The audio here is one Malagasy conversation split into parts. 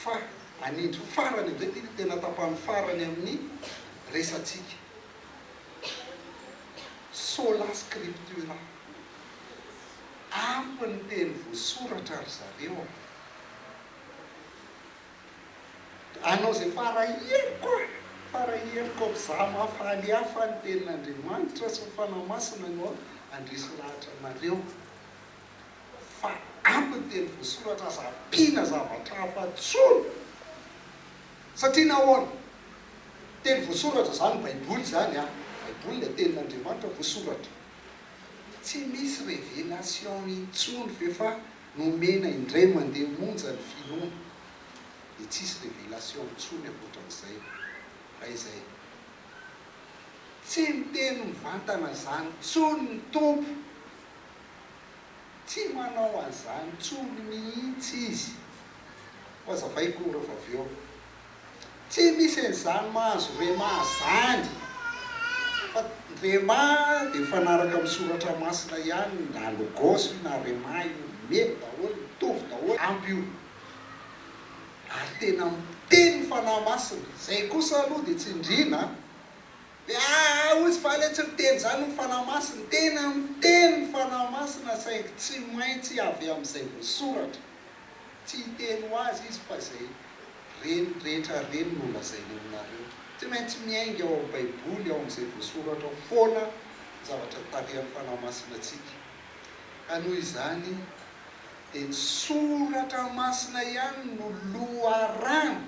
Fa anindry farany amin'izay ity no tena tapany farany amin'ny resatsika. Sola scriptura. Ampy ny teny voasoratra ry zareo a! Hanao izay fara heriko aho, fara heriko amin'izaho mahafaly ahy fa ny tenin'Andriamanitra sy ny Fanahy Masina no handresy lahatra anareo. Fa ampy ny teny voasoratra, aza ampiana zavatra hafa intsony. Satria nahoana? Teny voasoratra izany Baiboly izany an! Baiboly dia tenin'Andriamanitra voasoratra. Tsy misy révélation intsony ve fa Nomena indray mandeha monja ny filon dia tsisy révélation intsony ankoatran'izay raha izay. Tsy miteny mivantana zany tsony ny Tompo. Tsy manao an'izany tsony mihitsy Izy. Ho azavaiko rehefa avy eo. Tsy misy an'izany mahazo Rhema zany fa Rhema dia mifanaraka amin'ny soratra masina ihany na Logos io na Rhema io mety daholo mitovy daholo ampy io ary tena miteny ny fanahy masina izay kosa aloha dia tsindriana dia aa hozy fa le tsy miteny izany ny fanahy masina tena miteny ny fanahy masina saingy tsy maintsy avy amin'izay voasoratra Tsy hiteny ho azy izy fa izay reniny rehetra reny no holazainy aminareo. Tsy maintsy miainga ao amin'ny Baiboly, ao amin'izay voasoratra ao foana ny zavatra tarihan'ny Fanahy Masina antsika. Ka noho izany dia ny Soratra Masina ihany no loharano,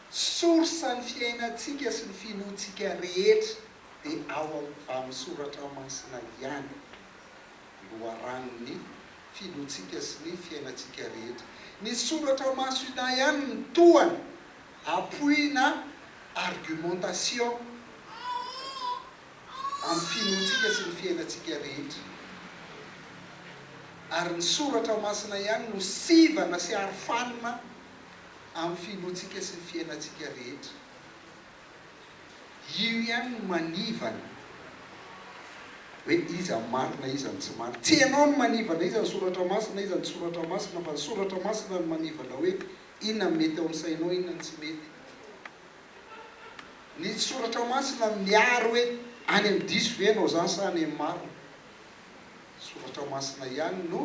source ny fiainantsika sy ny finoantsika rehetra dia ao amin'ny Soratra Masina ihany. Loharanon'ny filohantsika sy ny fiainantsika rehetra. Ny soratra masina ihany no tohana, appui na argumentation amin'ny finoantsika sy ny fiainantsika rehetra. Ary ny soratra masina ihany no sivana sy arofanina amin'ny finoantsika sy ny fiainantsika rehetra. Io ihany no manivana hoe iza no marina iza no tsy marina. Tsy ianao no manivana iza no soratra masina iza no tsy soratra masina fa ny soratra masina no manivana hoe inona no mety ao amin'ny sainao inona no tsy mety. Ny soratra masina no miaro hoe any amin'ny diso ve ianao zany sa any amin'ny marina. Ny soratra masina ihany no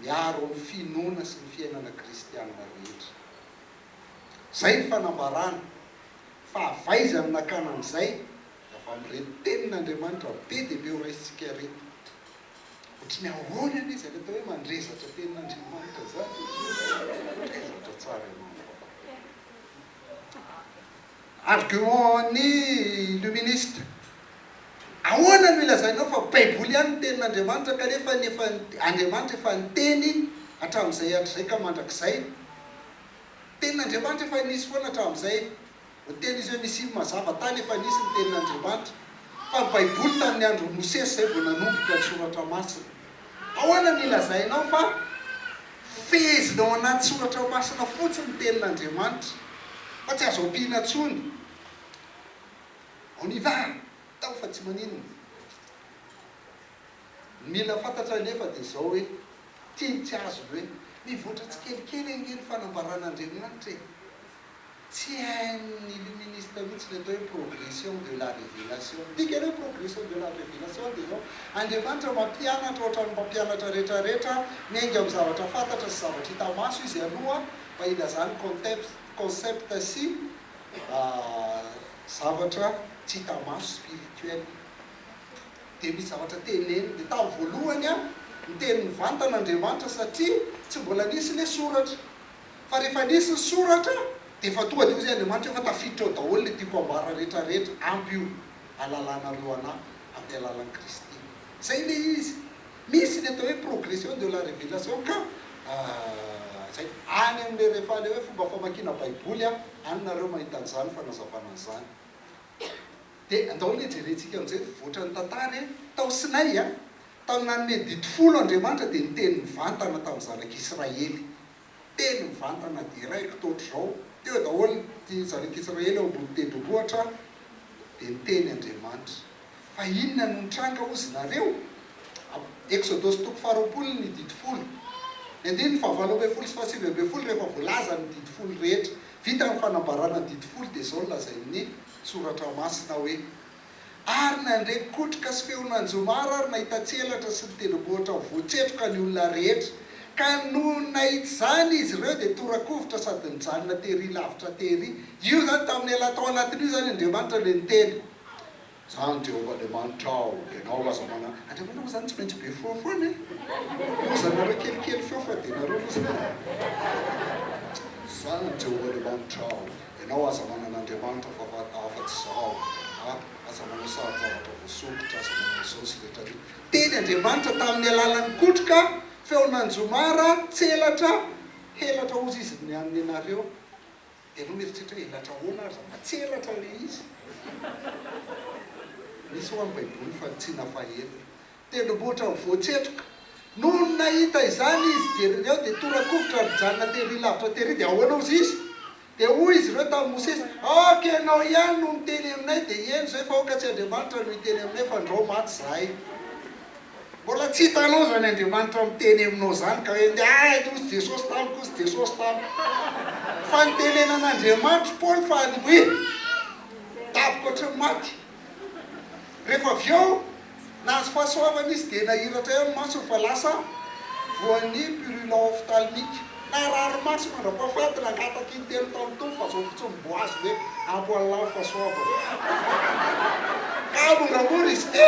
miaro ny finoana sy ny fiainana kristianina rehetra. Izay ny fanambarany. Fa avy aiza no nakana an'izay? Avy amin'ireto tenin'Andriamanitra be dia be ho raisintsika ireto. Ohatry ny ahoana anie izany atao hoe mandrezatra tenin'Andriamanitra izany e? Mandrezatra tsara ianao angamba. Argument-n'ny Illuministe, Ahoana no ilazainao fa Baiboly ihany no tenin'Andriamanitra kanefa ny efa Andriamanitra efa niteny hatramin'izay hatrizay ka mandrakizay? Tenin'Andriamanitra efa nisy foana hatramin'izay. Ny teny izay nisian'ny mazava tany efa nisy ny tenin'Andriamanitra. Fa ny Baiboly tamin'ny andron'i Mosesy izay vao nanomboka ny Soratra Masina. Ahoana no ilazainao fa fehezina ao anaty Soratra Masina fotsiny ny tenin'Andriamanitra fa tsy azo ampiana intsony? On y va! Tao fa tsy maninona. Ny mila fantatra anefa dia izao hoe, tiany tsy azony hoe, mivoatra tsikelikely ange ny fanambaran'Andriamanitra e! Tsy hain'ny illuministe mihitsy ny atao hoe progression de la révélation. Ny dikany hoe progression de la révélation dia izao, Andriamanitra mampianatra ohatran'ny mpampianatra rehetrarehetra, miainga amin'ny zavatra fantatra sy zavatra hita maso Izy aloha mba hilazany conteps, concept sy zavatra tsy hita maso, spirituel. Dia misy zavatra teneniny, dia tamin'ny voalohany an, niteny mivantana Andriamanitra satria tsy mbola nisy ilay soratra. Fa rehefa nisy ny soratra, dia efa tonga dia hoy izay Andriamanitra, efa tafiditra ao daholo ilay tiako ambara rehetra rehetra, ampy io halalanareo anah amin'ny alalan'i Kristy. Izay ilay izy. Misy ilay atao hoe progression de la revelation ka. Ahh izay. Any amin'ilay rehefa ilay hoe fomba famakiana baiboly an, any nareo mahita an'izany fanazavana an'izany. Dia andao anie jerentsika amin'izay mivoatra ny tantara e! Tao Sinay a! Tany nanome didy folo Andriamanitra dia niteny mivantana tamin'ny zanak'i Israely. Teny mivantana deraiko toa ohatr'izao, teo daholo ny zanak'i Israely ao ambony tendrombohitra dia niteny Andriamanitra. Fa inona no nitranga hozy nareo? Eksodosy toko faharoapolo ny didy folo. Ny andininy fahavalo ambin'ny folo sy fahasivy ambin'ny folo rehefa voalaza ny didy folo rehetra. Vita ny fanambarana ny didy folo dia izao no lazain'ny. Soratra Masina hoe, Ary nandre kotroka sy feon'anjomara ary nahita tsy elatra sy ny tendrombohitra voatsetroka ny olona rehetra, ka nony nahita izany izy ireo dia tora-kovitra sady nijanona tery lavitra tery. Io izany, tamin'ny ela tao anatin'io izany Andriamanitra ilay niteny. Izany Jehovah Andriamanitra ao, ianao lasa manana. Andriamanitra moa izany tsy maintsy be feo foana e! Lozanareo kelikely feo fa dia nareo lozana. Izany Jehovah Andriamanitra ao. Ianao aza manana Andriamanitra fa afa tsy izaho a! Aza manao sarin-javatra voasokitra, aza manao izao sy rehetra rehetra. Teny Andriamanitra tamin'ny alalan'ny kotroka, feon'anjomara, tselatra, helatra hozy izy ny an'ny anareo. Dia ianao mieritreritra hoe elatra ahoana ary izany? Tselatra ilay izy. Misy ho'a ny baiboly fa tsy nafaela. Tendrombohitra ho voatsetroka. Nony nahita izany izy, jereo avy eo, dia tora-kovitra ary nijanona tery lavitra tery, dia ahoana hozy izy? Dia hoy izy ireo tamin'i Mosesy, Aoka ianao ihany no miteny aminay, dia heno izay fa aoka tsy Andriamanitra no hiteny aminay, fa andrao maty izahay. Mbola tsy hitanao izany Andriamanitra miteny aminao izany, ka hoe amin'izay, Ahy anie hozy Jesosy tamiko, hozy Jesosy tamiko. Fa nitenenan'Andriamanitra Paoly fa andevo e! Daboka ohatry ny maty. Rehefa avy eo, nahazo fahasoavana izy dia nahiratra ihany ny masony fa lasa voan'ny purulent ophtalmique. Narary maso mandra-pahafaty, nangataka intelo tamin'ny Tompo fa zao fotsiny mbo azo ve ampo an'lah ho fahasoavana. Ka moramora izy ity.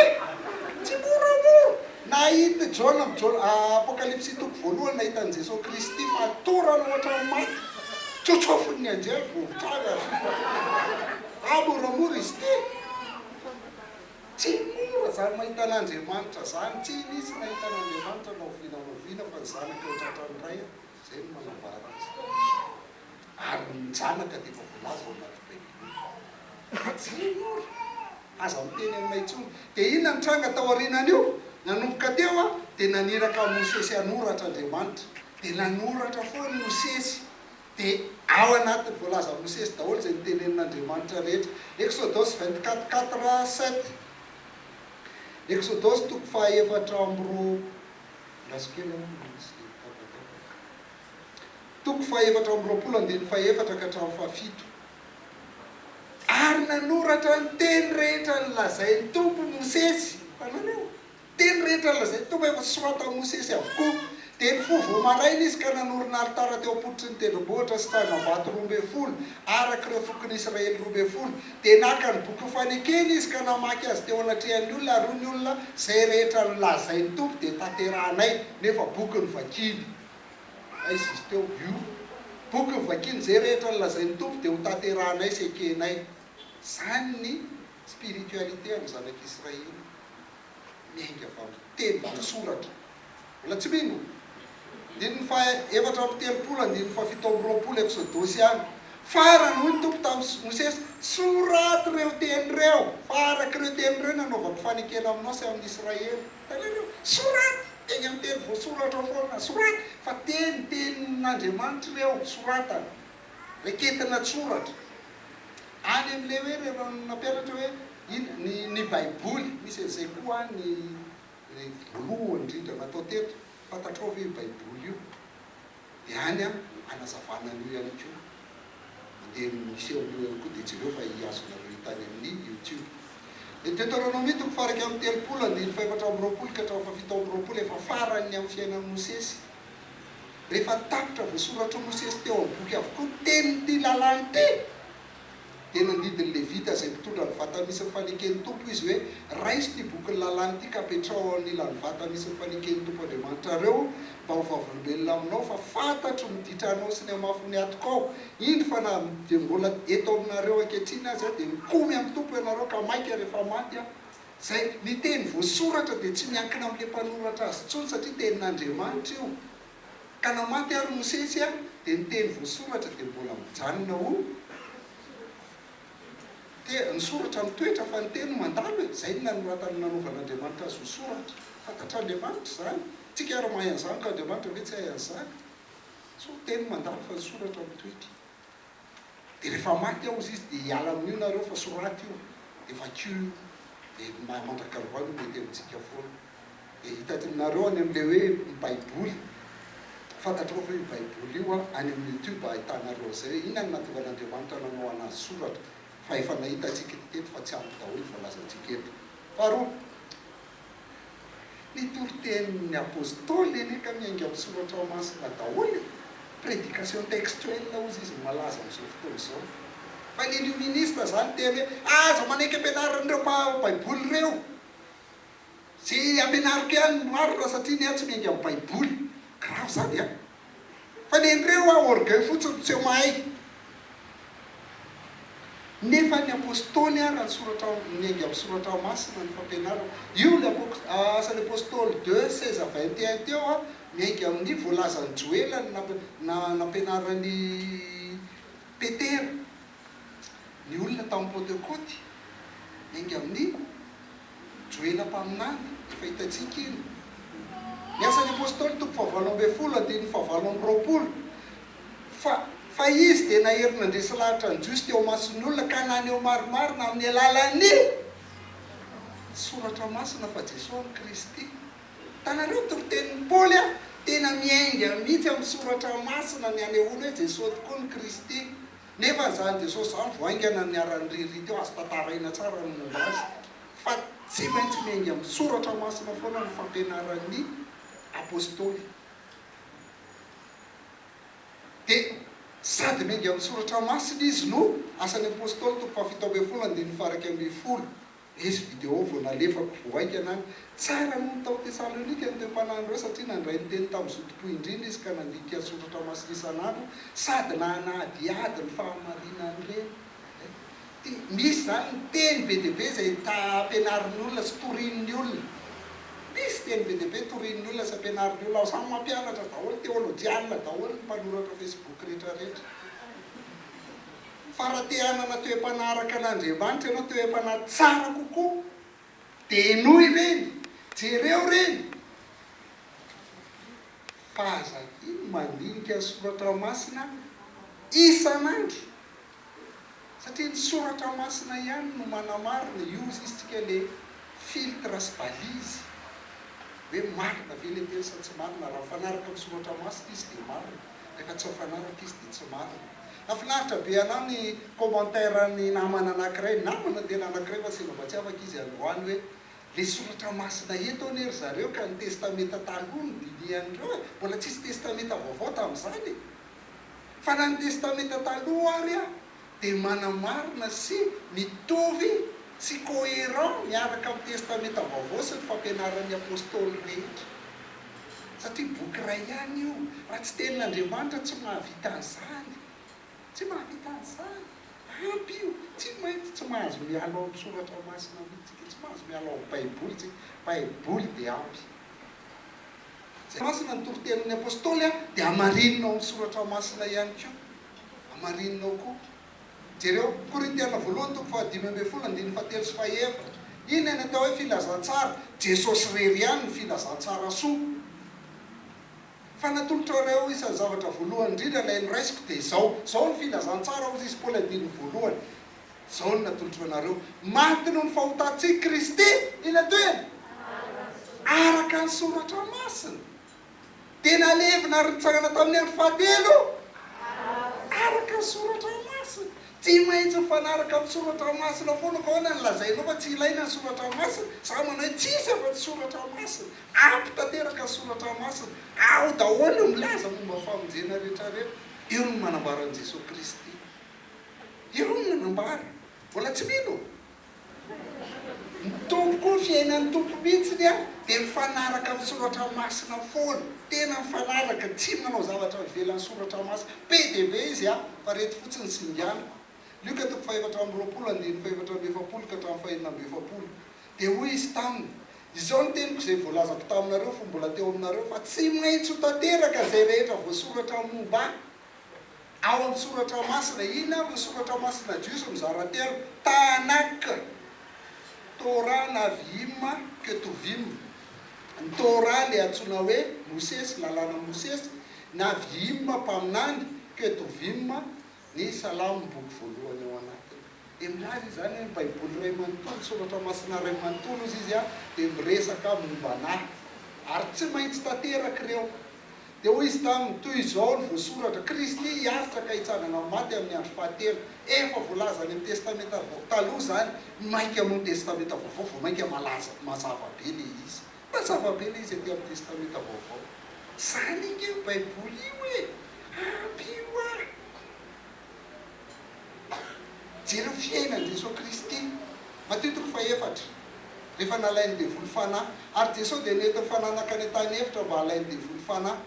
Tsy moramora. Nahita Jaona am Jaona ah Apokalypsy toko voalohany nahita an'i Jesoa Kristy fatorany hoatran'ny maty, tsotsofin'ny anjely vovoka avy azo. Raha moramora izy ity, tsy mora izany mahita an'Andriamanitra izany, tsy nisy nahita an'Andriamanitra na oviana na oviana fa ny zanaka eo an-tratran'ny Ray, izay no manambara azy. Ary ny zanaka dia efa voalaza ao anaty Baiboly. Ka tsy mora. Aza miteny aminay intsony. Dia inona ny tranga tao aorianan'io? Nanomboka teo dia naniraka an'i Mosesy hanoratra Andriamanitra. Dia nanoratra foana i Mosesy. Dia ao anatin'ny voalazan'i Mosesy daholo izay notenenin'Andriamanitra rehetra. Exodosy vingt quatre quatre sept Exodosy toko fahaefatra amby roa Andraso kely an, misy tapatapaka Toko fahaefatra amby roapolo andininy fahefatra ka hatramin'ny fahafito Ary nanoratra ny teny rehetra nolazain'ny Tompo Mosesy, hitanareo? Teny rehetra nolazain'ny Tompo efa soratan'i Mosesy avokoa. Dia nifoha vao maraina izy ka nanorina alitara teo am-pototry ny tendrombohitra sy tsangambato roa ambin'ny folo, araka ireo fokon'ny Israely roa ambin'ny folo. Dia naka ny boky ho fanekeny izy ka namaky azy teo anatrehan'ny olona, ary hoy ny olona, Izay rehetra nolazain'ny Tompo dia tanterahanay, nefa boky no vakiny. Aiza izy teo? Io. Boky no vakiny. Izay rehetra nolazain'ny Tompo dia hotanterahanay sy hekenay. Izany ny. Spiritualité an'ny zanak'Israely miainga avy amin'ny teny na soratra. Mbola tsy mino? Andininy faha efatra amby telopolo, andininy faha fito amby roapolo Eksodosy any. Farany hoy ny Tompo tamin'i Mosesy, soraty ireo teny ireo, fa araka ireo teny ireo no hanaovako fanekena aminao sy amin'ny Israely. Hitanareo? Soraty! Eny amin'ny teny voasoratra ao foana. Soraty! Fa teny, tenin'Andriamanitra ireo, soratana. Raketin'antsoratra. Any amin'ilay hoe ireo nampianatra hoe ina ny ny baiboly, misy an'izay koa any ilay voalohany indrindra natao teto, fantatrao ve io baiboly io? Dia any anazavana an'io ihany koa. Mandeha misy eo amin'io ihany koa dia jereo fa azonareo hita any amin'ny youtube. Ny Deteronomia toko faha iraika amby telopolo, andininy faha efatra amby roapolo ka hatramin'ny faha fito amby roapolo efa faran'ny amin'ny fiainan'i Mosesy. Rehefa tapitra voasoratr'i Mosesy teo amin'ny boky avokoa ny tenin'ity lalàna ity, dia nandidy ny Levita izay mpitondra ny vata misy ny faneken'ny Tompo izy hoe, Raiso ity bokin'ny lalàna ity ka apetraho eo anilan'ny vata misy ny faneken'ny Tompo Andriamanitrareo mba ho vavolombelona aminao fa fantatro ny ditranao sy ny hamafin'ny atokao, indro fa na dia mbola eto aminareo ankehitriny aza dia mikomy amin'ny Tompo ianareo ka mainka rehefa maty aho. Izay, ny teny voasoratra dia tsy miankina amin'ilay mpanoratra azy intsony satria tenin'Andriamanitra io. Ka na maty ary Mosesy dia ny teny voasoratra dia mbola mijanona ho tena. Ny soratra mitoetra fa ny teny mandalo e! Izay no nanoratany nanovan'Andriamanitra azy ho soratra. Fantatr'Andriamanitra izany. Tsika ary mahay an'izany ka Andriamanitra ve tsy hahay an'izany? Teny mandalo fa ny soratra mitoetra. Dia rehefa maty aho hozy izy dia hiala amin'io nareo fa soraty io dia vakio io dia ny maha mandrakarva no mety amintsika foana. Dia hitantinareo any amin'ilay hoe ny baiboly, fantatrao ve io baiboly io an, any amin'ny youtube ahitanareo an'izay, inona no nahatonga an'Andriamanitra nanao anazy soratra fa efa nahitantsika ny teny fa tsy ampy daholo ny voalazantsika eto. Faharoa. Ny toritenin'ny Apostoly anie ka miainga amin'ny Soratra Masina daholo e! Prédication textuelle hozy izy no malaza amin'izao fotoana izao. Fa ny Illuministe izany miteny hoe aza manaiky ampianarin'ireo mpahay Baiboly ireo! Izay ampianariko ihany no marina satria ny ahy tsy miainga amin'ny Baiboly. Grave izany an! Fa le ndreo hoa orgueil fotsiny tsy mahay. Nefa ny apostoly ary an-tsoratra miainga amin'ny soratra masina ny fampianarana. Io le Asan'ny apostoly deux seize à vingt et un teo an, miainga amin'ny voalazan'i Joela ny nampianaran'i Petera. ny olona tao amin'ny Pantekoty, enga amin'ny Joela mpaminany, efa hitantsika iny. Ny Asan'ny Apostoly, toko fahavalo ambin'ny folo, andininy fahavalo amby roapolo, Fa fa izy dia nahery nandresy lahatra ny Jiosy teo imason'ny olona ka naneho marimarina amin'ny alalan'ny Soratra Masina fa Jesoa no Kristy. Hitanareo ny toritenin'i Paoly a! Tena miainga mihitsy amin'ny Soratra Masina ny hanehoany hoe Jesoa tokoa no Kristy. Nefa izany Jesosy izany vao haingana niharan'ny ririty eo, azo tantaraina tsara ny momba azy fa tsy maintsy miainga amin'ny soratra masina foana ny fampianaran'ny Apostoly. Dia sady miainga amin'ny soratra masina izy no, Asan'ny Apostoly, toko fahafito ambin'ny folo, andininy faha iraika ambin'ny folo. Nisy vidéo vao nalefako vao haikana aho. Tsara noho ny tao Tesalônika ny toe-panahin'ireo satria nandray ny teny tamin'ny zotom-po indrindra izy ka nandika ny soratra masina isan'andro sady nanadihady ny fahamarinan'ireny. Misy izany ny teny be dia be izay ampianarin'ny olona sy torian'ny olona. Misy teny be dia be torian'ny olona sy ampianarin'ny olona ao. Samy mampianatra daholo, teolojianina daholo ny mpanoratra Facebook rehetra rehetra. fa raha te hanana toe-panahy araka an'Andriamanitra ianao, toe-panahy tsara kokoa, dia henoy ireny, jereo ireny. Fa aza adino mandinika ny soratra masina isan'andro, satria ny soratra masina ihany no manamarina, io hozy isika ilay filtre sy balise hoe marina ve ilay teny sa tsy marina, raha mifanaraka amin'ny soratra masina izy dia marina. Rehefa tsy ao fanaraka izy dia tsy marina. Hafinaritra be anah ny commentaire ny namana anakiray, namana tena anakiray fa sendra mba tsy afaka izy androany hoe, le soratra masina eto anie ry zareo ka ny testamenta taloha no dinihan'ireo e! Mbola tsisy testamenta vaovao tamin'izany e! Fa na ny testamenta taloha ary an! dia manamarina sy mitovy sy coherent miaraka amin'ny Testamenta Vaovao sy ny fampianaran'ny Apostoly rehetra. Satria boky iray ihany io. Raha tsy Tenin'Andriamanitra tsy mahavita an'izany. Tsy mahavita an'izany. Ampy io. Tsy maintsy tsy mahazo miala ao amin'ny Soratra Masina mihitsy isika. Tsy mahazo miala ao amin'ny Baiboly isika. Baiboly dia ampy. Izay masina ny toritenin'ny Apostoly dia hamarinina ao amin'ny Soratra Masina ihany koa. Hamarininao koa. Jereo Korintiana voalohany toko fahadimy ambin'ny folo andininy fahatelo sy fahaefatra. Inona ny atao hoe filazantsara? Jesosy irery ihany no filazantsara soa. Fa natolotra ireo isan'ny zavatra voalohany indrindra ilay noraisiko dia izao. Izao no filazantsara hozy izy Paoly andininy voalohany. Izao no natolotra anareo. Maty noho ny fahotantsika Kristy. Inona toy? Araka ny soratra masina. dia nalevina ary nitsangana tamin'ny andro fahatelo araka ny soratra masina. Tsy maintsy mifanaraka amin'ny soratra masina foana fa ahoana no lazainao fa tsy ilaina ny soratra masina? Za manao hoe tsisy afa tsy soratra masina, ampy tanteraka ny soratra masina ao daholo no milaza momba ny famonjena rehetra rehetra. Io no manambara an'i Jesoa Kristy. Io no nanambara. Mbola tsy mino? Ny Tompo koa fiainan'ny Tompo mihitsy dia mifanaraka amin'ny soratra masina foana, tena mifanaraka, tsy manao zavatra ivelan'ny soratra masina, be dia be izy an, fa ireto fotsiny singaniko, Lioka toko fahefatra amby roapolo andininy fahefatra amby efapolo ka hatramin'ny fahenina amby efapolo, dia hoy Izy taminy, Izao ny teniko izay voalazako taminareo fony mbola teo aminareo, fa tsy maintsy ho tanteraka izay rehetra voasoratra momba Ahy. Ao amin'ny Soratra Masina, inona avy ny Soratra Masina Jiosy mizara telo? Tanakh, Torah Navi'im, Ketuvim. Ny Torah ilay antsoina hoe Mosesy, Lalàna Mosesy, Navi'im, Mpaminany, Ketuvim, ny Salamo, boky voalohany ao anatiny. Dia milaza izany hoe ny Baiboly iray manontolo, ny Soratra Masina iray manontolo, hozy izy, dia miresaka momba anà. Ary tsy maintsy tanteraka ireo. Dia hoy izy taminy, Toy izao no voasoratra, Kristy hiaritra ka hitsangana amin'ny maty amin'ny andro fahatelo. Efa voalaza any amin'ny Testamenta Vao Taloha izany, mainka moa ny Testamenta Vaovao vao mainka malaza, mazava be ilay izy. Mazava be ilay izy aty amin'ny Testamenta Vaovao. Izany ange io Baiboly io e! Ampio aho! Jereo fiainan Jesoa Kristy Matio toko fahefatra Rehefa nalainy devoly fanahy Ary Jesoa dia nety nifananaka any antany efitra mba halainy devoly fanahy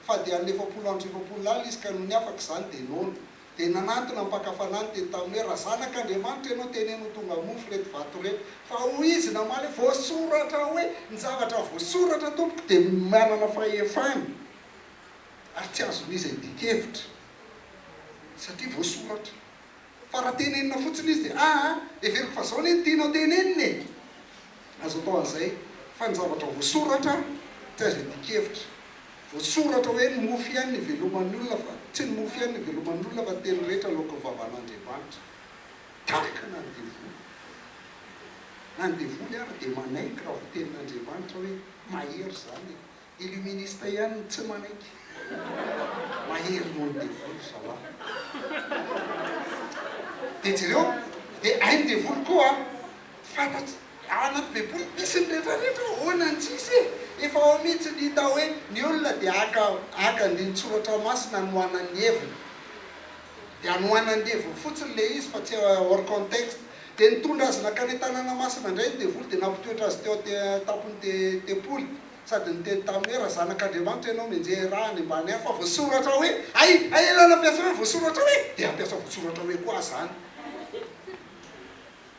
Fa dia hanina efapolo andro sy efapolo alina izy ka nony afaka izany dia noana Dia nanantona ny mpaka fanahiny teny taminy hoe Raha zanak Andriamanitra ianao teneno ho tonga mofo ireto vato ireto Fa hoy izy namaly hoe Voasoratra hoe Ny zavatra voasoratra tompoko dia manana fahefana Ary tsy azon'iza idikevitra. satria voasoratra fa raha tenenina fotsiny izy dia aa heveriko fa zao anie no tianao tenenina e! azo atao an'izay fa ny zavatra voasoratra tsy azo iadian-kevitra, voasoratra hoe ny mofo ihany no iveloman'ny olona fa tsy ny mofo ihany no iveloman'ny olona fa ny teny rehetra aloakan'ny vavan'Andriamanitra tahaka na ny devoly na ny devoly ara dia manaiky raha voatenin'Andriamanitra hoe mahery izany e! Illuministe ihany no tsy manaiky. Mahery noho ny devoly zalahy. Dia jereo, dia hain'ny devoly koa fantatry, ao anaty baiboly misy ny rehetra rehetra, ahoana no tsy hisy e? Efa ao mihitsy ny hita hoe ny olona dia haka haka andinin-tsoratra masina hanohanany ny heviny. Dia hanohanany ny heviny fotsiny ilay izy fa tsy hors contexte. Dia nitondra azy nankany an-tanàna masina indray ny devoly dia nampitoetra azy teo an-tampon'ny te tempoly. sady niteny taminy hoe, Raha Zanak'Andriamanitra ianao, mianjehy raha any ambany any, fa voasoratra hoe, Hay, hay ianao nampiasa hoe voasoratra hoe, dia hampiasa voasoratra hoe koa aho izany.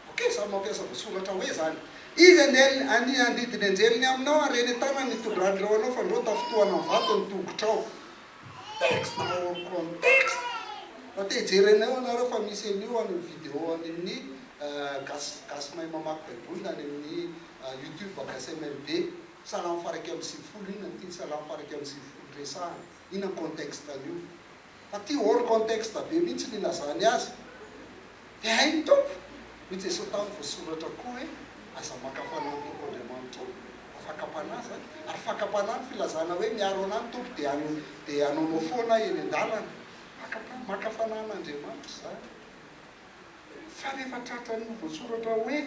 Ok, samy mampiasa voasoratra hoe izany. Izy andiany ania handidy ny anjeliny aminao, ary eny an-tanany ny tondrahan'ireo anao fandrao tafintohana amin'ny vato ny tongotrao. Texte hors contexte! Raha te hijery an'io ianareo fa misy an'io any amin'ny vidéo any amin'ny Gasy Gasy mahay mamaky Baiboly na any amin'ny YouTube Agasy MLB salamo fara ika amby sivifolo inona ny tiany salamo fara ika amby sivifolo resahana inona ny contexte an'io fa ty hors contexte be mihitsy ny ilazany azy de hay ny Tompo hoy Jesoa tany voasoratra koa hoe aza maka fanahy ny Tompo Andriamanitro fa fakam-panahy zany ary fakam-panahy ny filazana hoe miaro anah ny Tompo de de hanaonao foana eny an-dalana fakam-panahy maka fanahin'Andriamanitra zany fa rehefa tratran'ny voasoratra hoe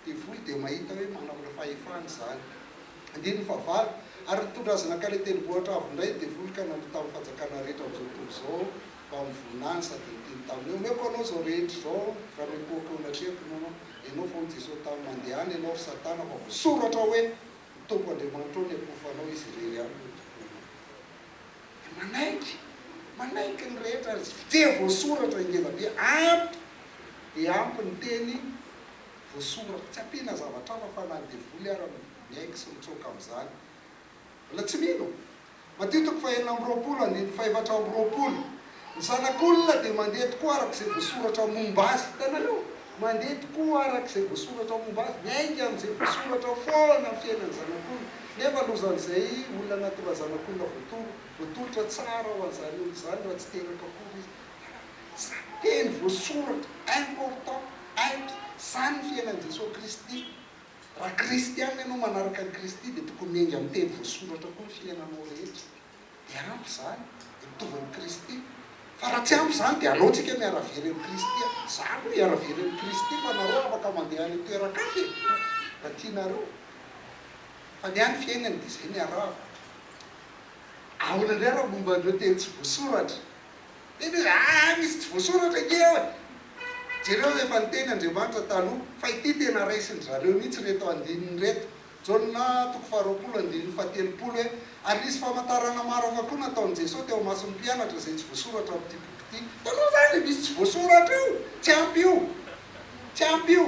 devoly dia mahita hoe manamla fahefana izany. Andininy fahavalo, Ary nitondra azy nankany an-tendrombohitra avo indray ny devoly ka nanohy tamin'ny fanjakana rehetra amin'izao tontolo izao mba hamovoana azy, sady niteny taminy hoe, Omeko anao izao rehetra izao raha mipoaka eo anatreako ianao. Ianao fa hoy Jesosy taminy, Mandehana ianao, ry Satana, fa voasoratra hoe, Ny Tompo Andriamanitrao no hiakofanao, Izy irery ihany no tomponao. Dia manaiky, manaiky ny rehetra ary tsy dia voasoratra i Ngevabe, ampy dia ampy ny teny voasoratra, tsy ampiana zavatra hafa fa na ny devoly ara miaiky sy mitsoaka amin'izany. Mbola tsy mino? Madio toko fahenina amby roapolo andininy fahefatra amby roapolo. Ny zanak'olona dia mandeha tokoa araka izay voasoratra momba azy. Hitanareo? Mandeha tokoa araka izay voasoratra momba azy. Miainga amin'izay voasoratra foana ny fiainan'ny zanak'olona. Nefa lozan'izay olona anaty razanak'olona voatondro, voatolotra tsara ho an'izany olona izany raha tsy teraka akory izy. Hitanareo? Teny voasoratra, important, aitra. Izany ny fiainan'i Jesoa Kristy. Raha kristiana ianao, manaraka an'i Kristy, dia tokony miainga amin'ny teny voasoratra koa ny fiainanao rehetra. Dia ampy izany, hitovy amin'i Kristy. Fa raha tsy ampy izany dia aleo tsika miara-very amin'i Kristy an! Izaho aloha miara-very amin'i Kristy fa nareo afaka mandeha any an-toeran-kafa e! Raha tianareo. Fa ny ahy ny fiainany dia izay niarahako. Ahoana indray raha momba an'ireo teny tsy voasoratra? Mety hoe, Aa! Misy tsy voasoratra ange eo e! Jereo izay efa niteny Andriamanitra taloha, fa ity tena raisin-dry zareo mihitsy ireto andininy ireto. Jaona toko faharoapolo andininy fahatelopolo e Ary nisy famantarana maro hafa koa nataon'i Jesoa teo imason'ny mpianatra izay tsy voasoratra amin'ity boky ity. Hitanao izany ilay misy tsy voasoratra io? Tsy ampy io! Tsy ampy io!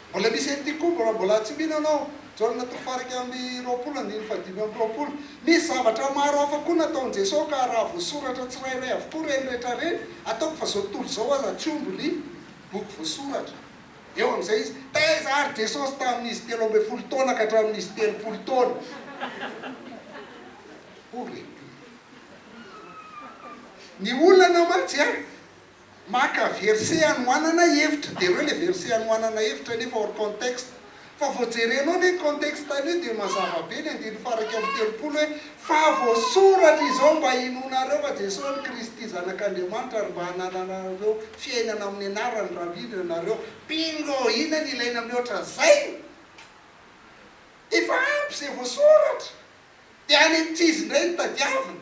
Mbola misy an'ity koa mbola mbola tsy mino anao. Jaona toko faha-iraika amby roapolo andininy fahadimy amby roapolo Misy zavatra maro hafa koa nataon'i Jesoa ka raha voasoratra tsirairay avokoa ireny rehetra ireny ataoko fa izao tontolo izao aza tsy omby ny boky voasoratra. Eo amin'izay izy, Taiza ary Jesosy tamin'izy telo ambin'ny folo taona ka hatramin'izy telopolo taona? Ô re! Ny olana mantsy a! Maka verset anohanana hevitra, dia ireo ilay verset anohanana hevitra nefa hors contexte. Fa vao jerenao le contexte an'io dia mazava be ny andininy faha iraika amby telopolo hoe, fa voasoratra izao mba hinoanareo fa Jesosy no Kristy zanak'Andriamanitra ary mba hanananareo fiainana amin'ny anarany raha mino ianareo. Bingo! Inona no ilaina mihoatra an'izay? Efa ampy izay voasoratra. Dia any ankizy indray no tadiavina.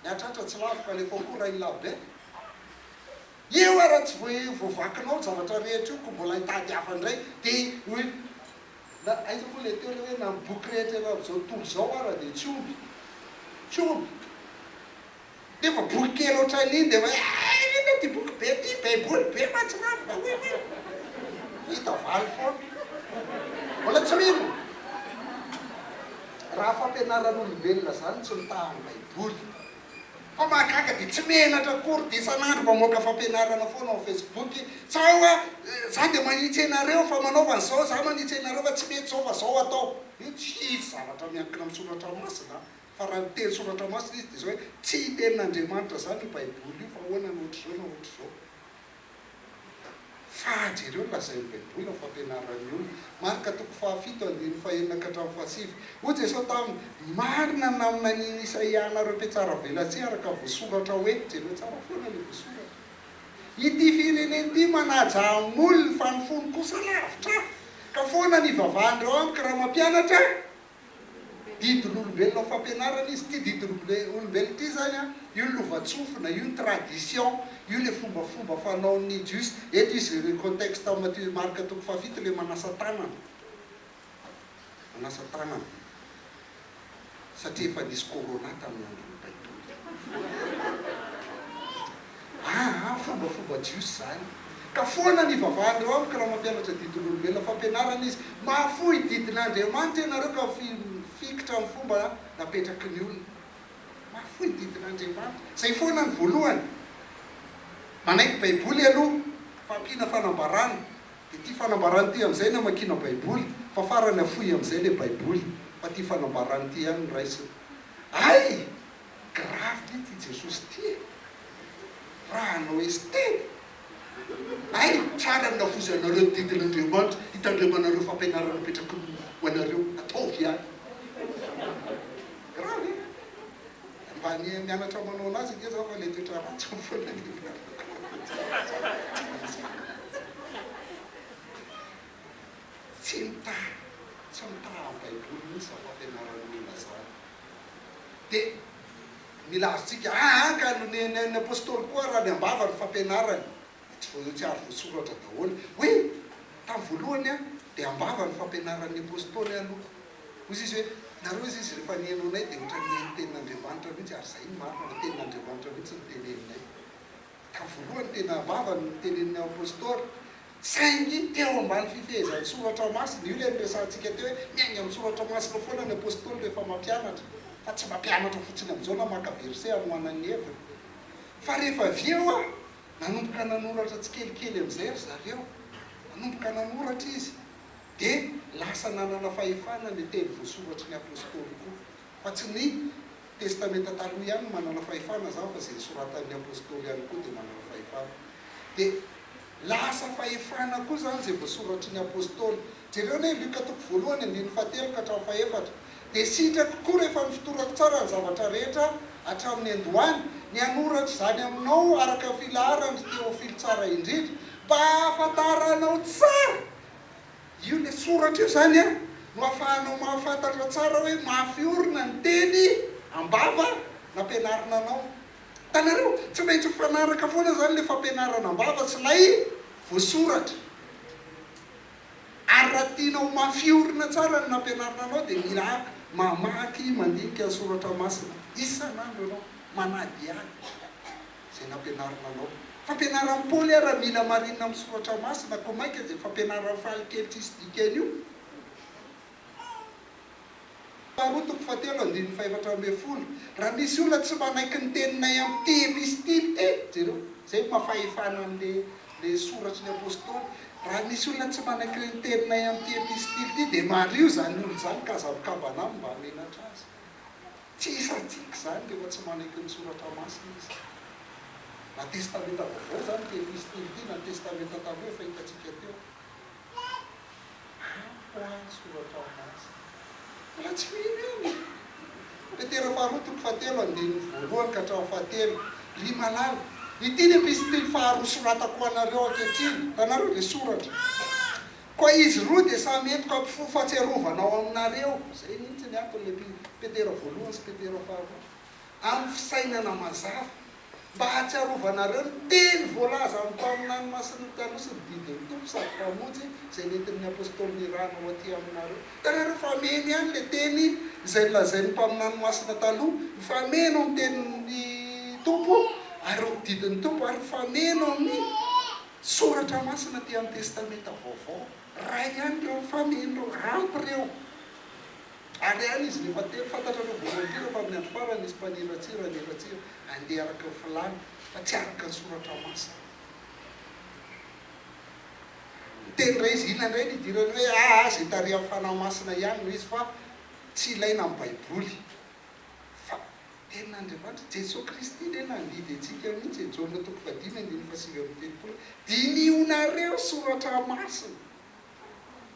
Miatratra tsy lavitra, alefao koa Rainilabert. Eo ary raha tsy voavakinao zavatra rehetra io koa mbola hitady hafa indray dia hoe na aiza moa ilay teo ilay hoe na ny boky rehetra eran'izao tontolo izao ara dia tsy omby tsy omby nefa boky kely ohatran'iny dia hoe eh inona ity boky be ity baiboly be mantsy nga fa hoe hoe hita valy foana mbola tsy mino raha fampianaran'olombelona izany tsy mitaha ny baiboly Fa mahagaga dia tsy menatra akory dia isan'andro mamoaka fampianarana foana ao facebook tsaho a! Za dia manitsy anareo fa manaova an'izao za manitsy anareo fa tsy mety zao fa zao atao! Io tsy hisy zavatra miankina amin'ny soratra masina a! Fa raha miteny soratra masina izy dia zao hoe tsy tenin'Andriamanitra zany io baiboly io fa ahoana na ohatr'izao na ohatr'izao. Faha jereo ny lazain'ny Baiboly amin'ny fampianarana ny olona. Marka toko fahafito andininy fahenina ka hatramin'ny fahasivy. Hoy Jesosy taminy, Marina ny naminanian'i Isaia anareo mpihatsaravelatsihy araka voasoratra hoe, jereo tsara foana ny voasoratra. Ity firenena ity manaja amolony fa ny fony kosa lavitra ahy. Ka foana ny ivavahan'ireo amiko raha mampianatra ahy. Didin'olombelona ao fampianarana izy. Ity didin'olombelona ity izany an, io ny lovantsofina, io ny tradition, io ilay fombafomba fanaon'ny Jiosy. Eto izy ireo contexte ao Matthieu et Marc toko fahafito ilay manasa tanana. Manasa tanana. Satria efa nisy corona tamin'ny andron'ny Baiboly. Aa fomba fomba jiosy zany ka foana ny ivavahan'ireo amiko raha mampianatra didin'olombelona fampianarana izy mahafoy didin'Andriamanitra ianareo ka mifikitra amin'ny fomba napetraky ny olona mahafoy didin'Andriamanitra zay foana ny voalohany manaiky baiboly aloha fa ampiana fanambarana de ity fanambarana ity amin'izay ny amakiana baiboly fa farany afoy amin'izay le baiboly fa ity fanambarana ity ihany no raisina ay Gravy ty ty Jesosy ty e! Raha hanao esthète ay tsara ny navozanareo ny didin' Andriamanitra hitandremanareo fampianarana apetrakiny ho anareo ataovy ihany Gravy e! Mba ny mianatra manao anazy ange za fa le toetra ratsiny foana no Tsy mitaha, tsy mitaha baiboly mintsy za fampianaran'ny olona zany. Dia milaza antsika, aa ka ny ny apostoly koa raha ny ambava ny fampianarany, dia tsy voa tsy ary voasoratra daholo. Oui, tamin'ny voalohany an, dia ambava ny fampianaran'ny apostoly an aloha. Hoy izy hoe, nareo hoy izy rehefa nihaino anay dia ohatran'ny nihaino tenin'Andriamanitra mihitsy, ary izay no marina fa tenin'Andriamanitra mihitsy no teneninay. Ka voalohany tena vava no notenenin'ny apostoly, saingy teo ambany fifehezan'ny soratra masina. Io ilay niresahantsika teo hoe miainga amin'ny soratra masina foana ny apostoly rehefa mampianatra, fa tsy mampianatra fotsiny amin'izao na maka verset hanohanany ny heviny. Fa rehefa avy eo an, nanomboka nanoratra tsikelikely amin'izay ry zareo, nanomboka nanoratra izy, dia lasa nanana fahefana ny teny voasoratry ny apostoly koa. Fa tsy ny Testamenta Taloha ihany no manana fahefana zany fa izay nosoratan'ny Apostoly ihany koa dia manana fahefana. Dia lasa fahefana koa izany izay voasoratry ny Apostoly. Jereo anie Luka toko voalohany andininy fahatelo ka hatramin'ny fahefatra. Dia sitrako koa rehefa nofotorako tsara ny zavatra rehetra hatramin'ny niandohany, ny hanoratra izany aminao araka ny filaharan'i Theophile tsara indrindra, mba hahafantaranao tsara Io le soratra io zany an no afahanao mahafantatra tsara hoe mafy orina ny teny ambava nampianarina anao. Hitanareo? Tsy maintsy mifanaraka foana zany le fampianarana ambava sy lay voasoratra. Ary raha tianao ho mafy orina tsara ny nampianarina anao dia mila mamaky mandinika ny soratra masina isan'andro ianao, manadihady. izay nampianarina anao. Fampianaran'i Paoly ary raha mila marina amin'ny soratra masina koa mainka izay fampianaran'i Faly kely tsisy dikany io. Faharoa toko fahatelo andininy fahefatra ambin'ny folo, Raha misy olona tsy manaiky ny teninay amin'ity epistily ity, jereo izay maha fahefana an'ilay ilay soratry ny apostoly, Raha misy olona tsy manaiky ny teninay amin'ity epistily ity dia mario izany olona izany ka aza mikambana aminy mba hamenatra azy. Tsy isantsika izany rehefa tsy manaiky ny Soratra Masina izy. Na Testamenta Vaovao izany dia Epistily ity na Testamenta Taloha efa hitantsika teo. Ampy ho ahy ny Soratra Masina. Mbola tsy mino ihany e! Petera faharoa toko fahatelo andininy voalohany ka hatramin'ny fahatelo, Ry malala, ity ny Epistily faharoa soratako ho anareo ankehitriny, hitanareo ilay soratra? Koa izy roa dia samy entiko hampifoha fahatsiarovana ao aminareo, izay mihitsy ny anton'ilay Petera voalohany sy Petera faharoa, amin'ny fisainana mazava, mba hahatsiarovanareo ny teny voalaza amin'ny mpaminany masin'ny taloha sy ny didin'ny Tompo sady Mpamonjy izay nentin'ny Apostoly nirahana ho aty aminareo. Hitanareo fa hameno ihany ilay teny izay nolazain'ny mpaminany masina taloha, mifameno amin'ny tenin'ny Tompo ary ny didin'ny Tompo ary mifameno amin'ny. Soratra masina aty amin'ny Testamenta Vaovao, iray ihany ireo mifameno ireo, ampy ireo. Ary any izy no efa telo. Fantatrareo voalohany indrindra fa amin'ny andro farany nisy mpaniratsira niratsira handeha araka ny filàny, fa tsy araka ny Soratra Masina. Niteny indray izy, inona indray no idiran'ny hoe, aa izay tarihan'ny Fanahy Masina ihany no izy fa tsy ilaina amin'ny Baiboly. Fa Tenin'Andriamanitra, Jesoa Kristy indray nandidy antsika mihitsy e, Jaona toko fahadimy andininy fahasivy amby telopolo, Dinihonareo soratra masina,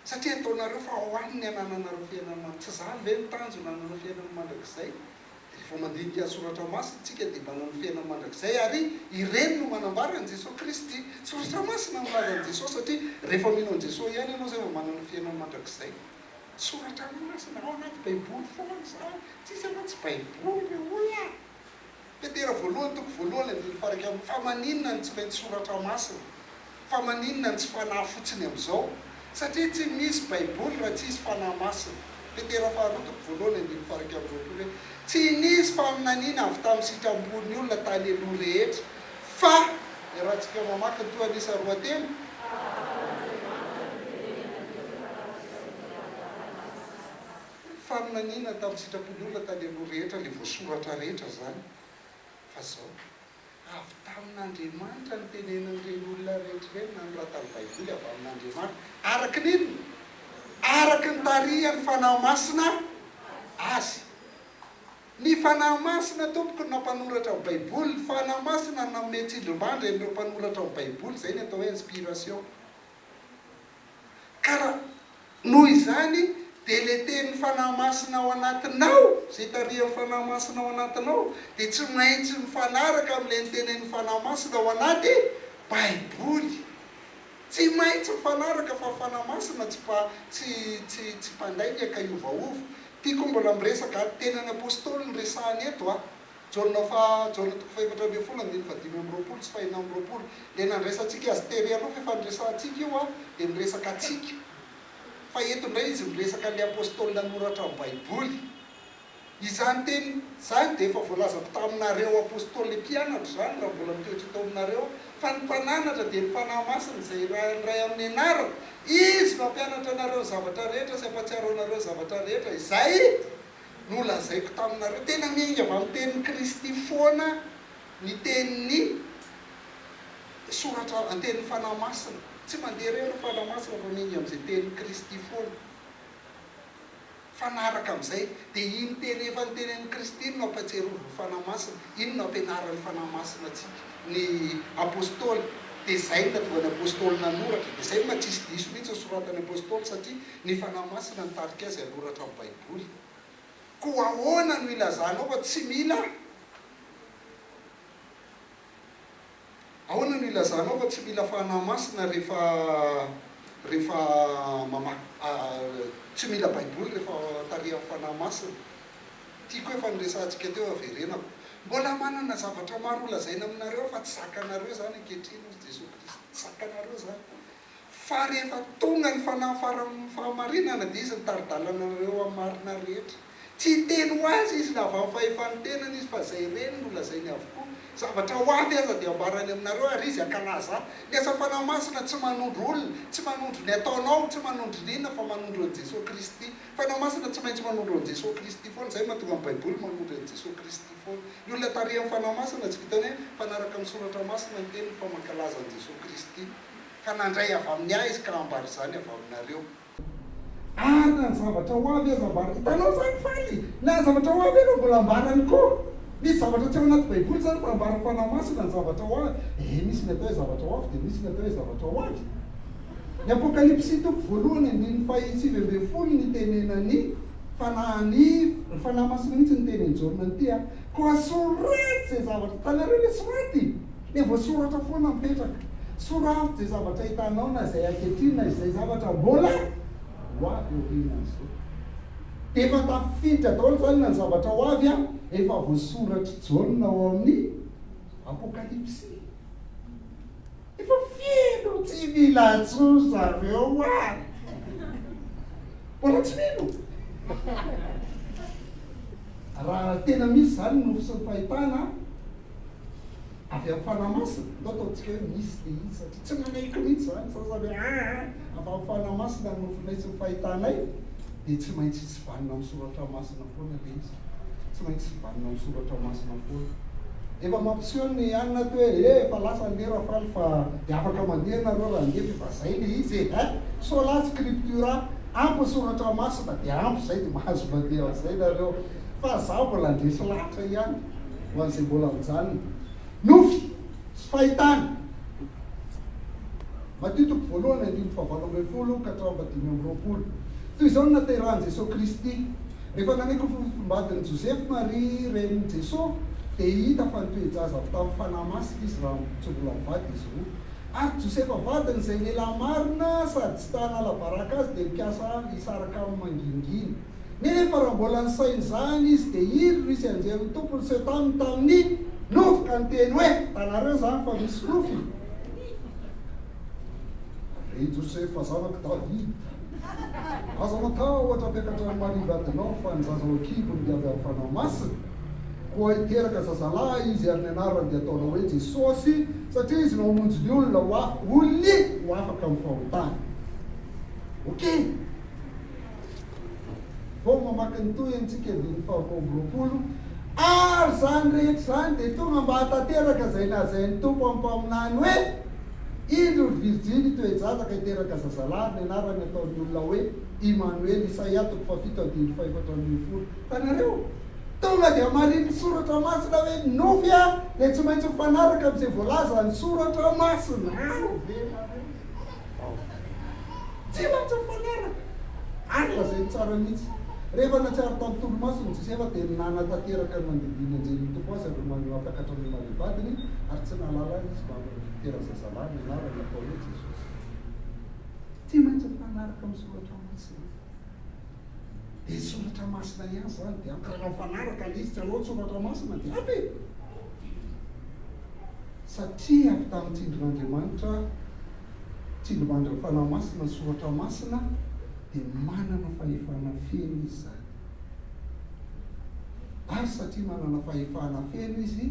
satria ataonareo fa ho an' ny anananareo fiainana mandrakizay. Tsy izany ve ny tanjona hananao fiainana mandrakizay? Dia rehefa mandinika soratra masina isika dia manana ny fiainana mandrakizay ary ireny no manambara an'i Jesoa Kristy. Soratra masina no milaza an'i Jesoa satria rehefa mino an'i Jesoa ihany ianao izay vao manana ny fiainana mandrakizay. Soratra masina ao anaty baiboly foana izany, tsisy aloha tsy baiboly ry olona. Petera voalohany toko voalohany andininy faha iraika amby, fa maninona no tsy mety soratra masina? Fa maninona no tsy fanahy fotsiny amin'izao? Satria tsy misy baiboly raha tsisy fanahy masina. Petera faha roa toko voalohany andininy faha iraika amby roapolo hoe, Tsy nisy faminaniana avy tamin'ny sitram-pon'ny olona tany aloha rehetra, Fa iarahantsika mamaky ny tohan'isa roa telo. Faminaniana tamin'ny sitrapon'olona tany aloha rehetra ilay voasoratra rehetra izany fa izao, avy tamin'Andriamanitra ny tenenan'ireny olona rehetra ireny nanoratany baiboly avy amin'Andriamanitra araka ny inona? Araka ny tarihan'ny fanahy masina azy. Ny Fanahy Masina tompoko no nampanoratra ny baiboly, ny Fanahy Masina no nanome tsindrimandry an'ireo mpanoratra ny baiboly, izay ny atao hoe inspiration. Ka raha noho izany dia ilay tenin'ny Fanahy Masina ao anatinao, izay tarihan'ny Fanahy Masina ao anatinao dia tsy maintsy mifanaraka amin'ilay nitenenin'ny Fanahy Masina ao anaty baiboly. Tsy maintsy mifanaraka fa ny Fanahy Masina tsy mpa, tsy, tsy, tsy mpandainga ka hiovaova. Tiako mbola miresaka ady tena ny Apostoly no resahana eto a! Jaona faha Jaona toko fahefatra ambin'ny folo andininy fahadimy amby roapolo sy fahenina amby roapolo. Ilay nandraisantsika azy tery aloha fa efa niresahantsika io a! dia miresaka antsika. Fa eto indray izy miresaka an'ilay Apostoly nanoratra ny Baiboly. Izany teny izany dia efa voalazako taminareo Apostoly mpianatra izany raha mbola mitoetra eto aminareo Fa ny mpananatra dia ny Fanahy Masina izay irahan'ny Ray amin'ny anarany. Izy no hampianatra anareo ny zavatra rehetra sy hampahatsiaro anareo ny zavatra rehetra izay nolazaiko taminareo. Tena miainga avy amin'ny tenin'i Kristy foana ny tenin'ny soratra antenin'ny Fanahy Masina. Tsy mandeha irery ny Fanahy Masina fa miainga amin'izay tenin'i Kristy foana. Mifanaraka amin'izay, dia iny teny efa notenenin'i Kristy iny no ampahatsiarovy ny Fanahy Masina, iny no ampianaran'ny Fanahy Masina antsika ny Apostoly, dia izay no nahatonga ny Apostoly nanoratra, dia izay no maha tsisy diso mihitsy ny soratan'ny Apostoly satria ny Fanahy Masina nitarika azy hanoratra ny Baiboly. Koa ahoana no ilazanao fa tsy mila? Ahoana no ilazanao fa tsy mila fanahy masina rehefa rehefa mamaky tsy mila baiboly rehefa tarihan'ny fanahy masina? Tiako efa niresahantsika teo haverenako. Mbola manana zavatra maro holazaina aminareo aho fa tsy zakanareo izany ankehitriny hozy Jesoa Kristy. Tsy zakanareo izany. Fa rehefa tonga ny fanahy faran'ny fahamarinana, dia Izy no tari-dalananareo amin'ny marina rehetra. Tsy hiteny ho azy Izy na avy amin'ny fahefan'ny tenany Izy, fa izay reny no lazainy avokoa. Zavatra ho avy aza dia hambarany aminareo, ary Izy hankalaza Ahy. Ny asa Fanahy Masina tsy manondro olona, tsy manondro ny ataonao, tsy manondro ny inona, fa manondro an'i Jesoa Kristy. Fanahy Masina tsy maintsy manondro an'i Jesoa Kristy foana. Izay no mahatonga ny Baiboly manondro an'i Jesoa Kristy foana. Ny olona tarihan'ny Fanahy Masina tsy vitan'ny hoe mpanaraka ny Soratra Masina ny teniny, fa mankalaza an'i Jesoa Kristy. Ka nandray avy amin'ny ahy izy ka hambara izany avy aminareo. Ary na ny zavatra ho avy aza ambara. Hitanao izany faly? Na ny zavatra ho avy aza mbola ambarany koa. Misy zavatra tsy ao anaty Baiboly izany fa ambaran'ny Fanahy Masina ny zavatra ho avy. Ee, misy ny atao hoe zavatra ho avy dia misy ny atao hoe zavatra ho avy. Ny Apokalypsy toko voalohany andininy fahasivy ambin'ny folo ny tenenan'ny Fanahiny, ry Fanahy Masina mihitsy no niteny an'i Jaona an'ity a. Koa soraty izay zavatra, hitanareo ilay soraty? Dia voasoratra foana mipetraka. Soraty izay zavatra hitanao na izay ankehitriny na izay zavatra mbola ho avy aorianan'izao. Dia efa tafiditra daholo izany na ny zavatra ho avy an, efa voasoratr'i Jaona ao amin'ny Apokalypsy. Efa feno tsy mila antsoy zareo an! Mbola tsy mino? Raha tena misy izany nofy sy ny fahitana an! Avy any Fanamasina? Ndao ataontsika hoe misy dia izy satria tsy nanahiko mihitsy izany, ny sasany hoe aa avy any Fanamasina no nofoinay sy nofahitanay dia tsy maintsy hisy vanona amin'ny soratra masina foana ilay izy, tsy maintsy hisy vanona amin'ny soratra masina foana. Efa mampiseho ny any na hoe ee efa lasa anie Rafaly fa dia afaka mandeha ianareo raha handeha fa efa izay ilay izy e! Ein! Sola scriptura, ampy ny soratra masina dia ampy izay dia mahazo mandeha amin'izay ianareo. fa izaho mbola handresy lahatra ihany ho an'izay mbola mijanona. Nofy sy fahitana. Matio toko voalohany andininy fahavalo ambin'ny folo ka hatramin'ny fahadimy amby roapolo. Toy izao no naterahan'i Jesoa Kristy, Rehefa nanaiky ho fofombadin'i Josefa Maria renin'i Jesoa, dia hita fa nitoe-jaza avy tamin'ny Fanahy Masina izy raha tsy mbola mivady izy roa. Ary Josefa vadiny izay lehilahy marina sady tsy ta hanala baraka azy dia nikasa hisaraka aminy mangingina. Nefa raha mbola nisaina izany izy, dia iry Rusy anjerin'ny Tompo niseho taminy tamin'ny nofy ka niteny hoe. Hitanareo izany fa misy nofy? Ry Josefa zanak'i Davida, aza matahotra hampiakatra an'i Maria vadinao, fa ny zaza ao an-kibony dia avy amin'ny Fanahy Masina. Koa hiteraka zazalahy izy, ary ny anarany dia hataonao hoe Jesosy, satria izy no hamonjy ny olona ho afaka amin'ny fahotany. Okay. Vao mamaky ny tohiny tsika andininy faha roa amby roapolo ary zany rehetra izany dia tonga mba hatanteraka izay lazain'ny Tompo amin'ny mpaminany hoe, Indro ry virjiny toe-jazaka hiteraka zazalahy, ny anarany ataon'ny olona hoe, Imanoely, Isaia toko fahafito andininy fahefatra ambin'ny folo. Hitanareo? Tonga dia marinin'ny soratra masina hoe ny nofy dia tsy maintsy mifanaraka amin'izay voalazan'ny soratra masina. Ao ve ianareo? ao. Tsy maintsy mifanaraka! Ary lazainy tsara mihitsy. Rehefa nahatsiaro tao amin'ny tolomasony Josefa, dia nanatanteraka ny nandidian'ny anjelin'ny Tompo azy ireo maha-takatra ny maha-be vadiny, ary tsy nahalala izy fa avy amin'ny fitoeran-jazalahy nianarany atao hoe Jesosy. Tsy maintsy mifanaraka amin'ny Soratra Masina. Dia ny soratra masina ihany izany dia ampianao mifanaraka ilay izy, tsy hanao ny soratra masina dia ampy e! Satria avy tamin'ny tsindrin'Andriamanitra, tsindrimandrin'ny Fanahy Masina ny soratra masina dia manana fahefana feno izy izany. Ary satria manana fahefana feno izy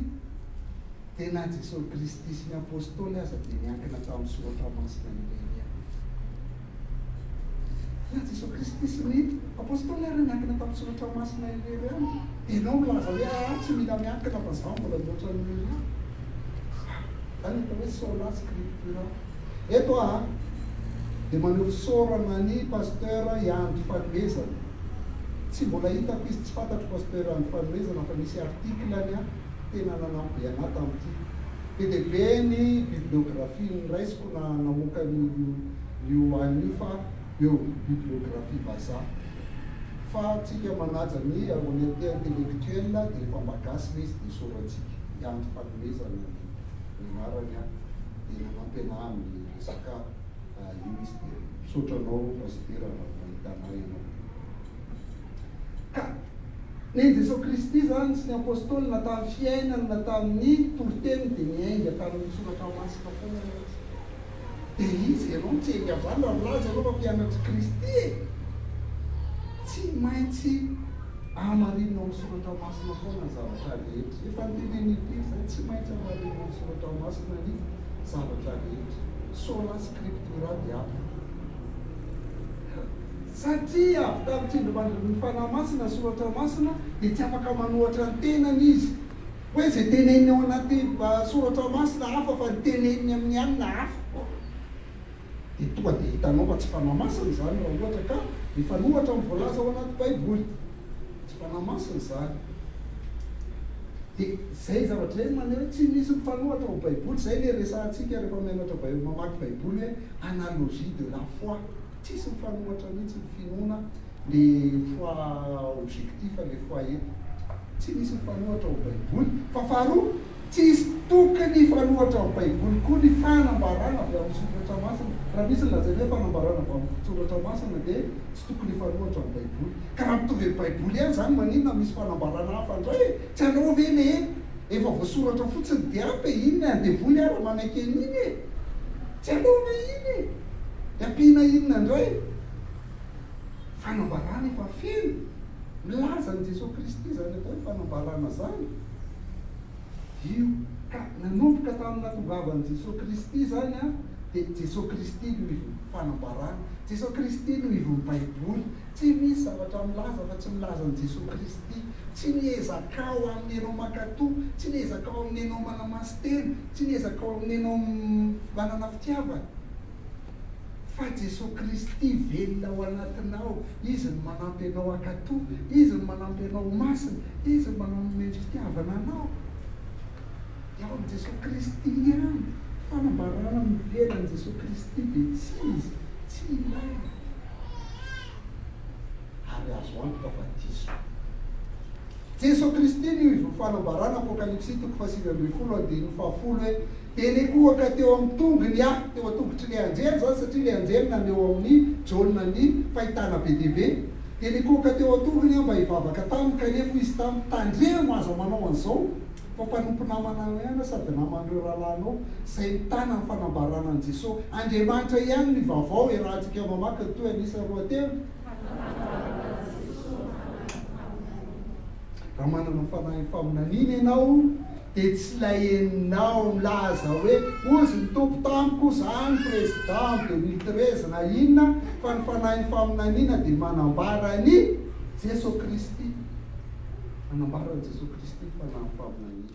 dia na Jesosy Kristy sy ny Apostoly aza dia niankina tamin'ny soratra masina ireny ihany. Ilay Jesoa Kristy sy ny Apôstôly ary niankina tamin'ny Soratra Masina irery ihany. Ianao milaza hoe ahy tsy mila miankina fa izaho mbola mihoatra an'i Elia. Izany no atao hoe sola scriptura. Eto aho dia maneho fisaorana an'i Pasteur Ianto Fanomezana. Tsy mbola hitako izy, tsy fantatro Pasteur Ianto Fanomezana fa nisy article-ny tena nanampy be an'ahy tamin'ity. Be dia be ny bibliographie-ny raisiko. na namoaka an'io io an io fa eo bibliographie vazaha fa tsika manaja ny honnete intellectuel dia efa mba gasy le izy dia soratsika i Andry Fanomezana ny ny anarany an dia nanampy anah amin'ny resaka io izy dia misaotra anao Pasitera raha mahita anah ianao. Ka na i Jesoa Kristy izany sy ny Apostoly na tamin'ny fiainany na tamin'ny toriteniny dia niainga tamin'ny Soratra Masina foana aloha izy. Dia iza ianao no tsy hiainga amin'izany raha milaza ianao fa mpianatr'i Kristy e? Tsy maintsy hamarinina ao amin'ny Soratra Masina foana ny zavatra rehetra. Efa noteneniny impiry izay, tsy maintsy hamarinina ao amin'ny Soratra Masina ny zavatra rehetra. Sola Scriptura Diaphora. Satria avy tamin'ny tsindrimandrin'ny Fanahy Masina ny soratra masina, dia tsy afaka manohatra ny tenany izy. Hoe izay teneniny ao anaty soratra masina hafa fa ny teneniny amin'ny alina hafa. Dia tonga dia hitanao fa tsy Fanahy Masina izany raha ohatra ka mifanohatra amin'ny voalaza ao anaty Baiboly. Tsy Fanahy Masina izany. Dia izay zavatra izay no maneho hoe tsy misy mifanohatra ao Baiboly. Izay ilay resahantsika rehefa mianatra Baiboly, mamaky Baiboly hoe analogie de la foi. Tsisy mifanohatra mihitsy ny finoana ny foi objectif le foi eto tsy misy mifanohatra ao baiboly fa faharoa tsisy tokony hifanohatra am baiboly koa ny fanambarana avy am soratra masina raha misy ny lazaina hoe fanambarana avy am soratra masina de tsy tokony hifanohatra am baiboly ka raha mitovy am baiboly ihany zany maninona misy fanambarana hafa ndray e tsy aleo ve le efa voasoratra fotsiny de ampy e inona e an devoly ara manaiky aniny e tsy aleo ve iny e. Dia ampiana inona indray? Fanambarana efa feno. Milaza an'i Jesoa Kristy izany atao hoe fanambarana izany. Io ka nanomboka tamin'ny nahatongavan'i Jesoa Kristy izany an, dia Jesoa Kristy no ivon'ny fanambarana, Jesoa Kristy no ivon'ny Baiboly. Tsy misy zavatra milaza fa tsy milaza an'i Jesoa Kristy. Tsy ny ezakao amin'ny ianao mankatò, tsy ny ezakao amin'ny ianao manamasin-tena, Tsy ny ezakao amin'ny anao manana fitiavana, fa Jesoa Kristy velona ao anatinao, Izy no manampy anao hankato, Izy no manampy anao ho masina, Izy no manome ny fitiavana anao. Dia ao amin'i Jesoa Kristy ihany. Fanambarana mivela an'i Jesoa Kristy dia tsy izy, tsy ilaina. Ary azo antoka fa diso. Jeso Kristy no ivon'ny fanambarana, Apokalypsy toko fahasivy ambin'ny folo andininy fahafolo hoe, Dia nikohaka teo amin'ny tongony aho, teo an-tongotr'ilay anjely izany satria ilay anjely naneho amin'i Jaona ny fahitana be dia be, dia nikohaka teo an-tongony aho mba hivavaka taminy, kanefa hoy izy tamiko, Tandremo, aza manao an'izao, fa mpanompo namanao ihany aho sady naman'ireo rahalahinao izay mitana ny fanambarana an'i Jeso. Andriamanitra ihany no ivavaho, iarahantsika mamaky ny tohiny isa roa telo. Raha manana fanahy faminaniana ianao dia tsy ilay henonao milaza hoe hozy ny Tompo tamiko zany président deux mille treize na inona fa ny fanahy faminaniana dia manambara an'i Jeso Kristy, manambara an'i Jeso Kristy ny fanahy faminaniana.